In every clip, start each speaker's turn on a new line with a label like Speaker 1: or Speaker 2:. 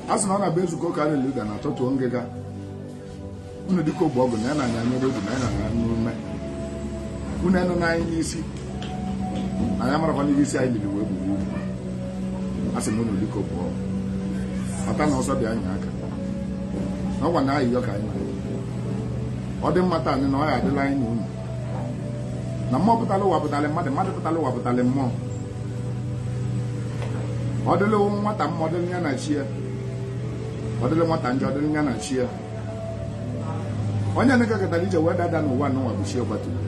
Speaker 1: a sị na ọ na-abụ ezukọ ka a na-eli udene atọtụọ ngịga unu dịka ogbe ọgụ na ya na-anya anya n'obi na ya na-anya n'ume unu enụ n'anyị n'isi na ya marakwa n'ihe isi anyị liri wee gburu ugwu a sị na unu dịka ogbe ọgụ mata na ọsọ dị anyị aka na ọ kwa na ayịyọ ka anyị na ọ dị mma taa anyị na ọ ya adịla anyị na unu na mmụọ pụtara ụwa pụtara mmadụ mmadụ pụtara ụwa pụtara mmụọ ọ dịla nwata mma ọ dịla ya na chi ya ọ dịla nwata njọ ọ dịla ya na chi ya onye na-ekekọtara ije wee dada n'ụwa na ụwa bụ chi gbatụrụ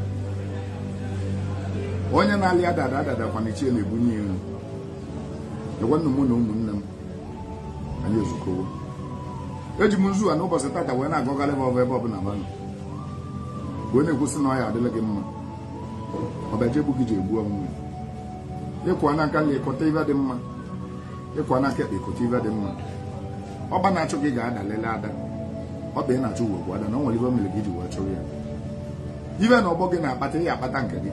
Speaker 1: onye na-alị ya dada adada kwana chi na-ebunye ihu lekwa nna mụ na ụmụnne m anyị ezukọwo eji m nzu a n'ụbọchị tata wee na-agọgharị m ọbụ ebe ọbụla mmanụ wee na-ekwusị na ọ ya adịla gị mma ọ bịa je egbu gị je egbu onwe ị kpa n'aka nni ị kpata ive dị mma ị kpa n'aka ekpe ị kpata ive dị mma ọba na-achụ gị ga-ada lele ada ọ bụ ị na-achụ uwe bụ ada na ọ nwere ive mere gị ji wee chụrụ ya ive na ọgbọ gị na-akpata ị ya akpata nke gị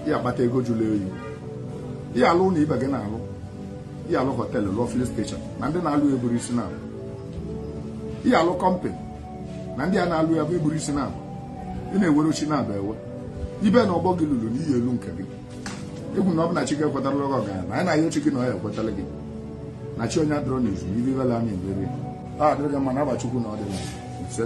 Speaker 1: ị ya akpata ego jụrụ oyi ị ya alụ na ibe gị na-alụ ị ya alụ hotel lụọ filling station na ndị na-alụ eburu isi na ị ya alụ company na ndị a na-alụ ya bụ eburu isi na-abụ ị na-ewere ochi na-abụ ewe ive na ọgbọ gị lụrụ na ị ya alụ nke gị ekwu m na ọ bụ na chi ga-ekwetara gị ọgaranya na anyị na-ayọ chi gị na ọ ya ekwetara gị na chi onye adịrọ n'izu ibe ibela anyị ebere ọ adịrị gị mma n'ava chukwu na ọ dị na ise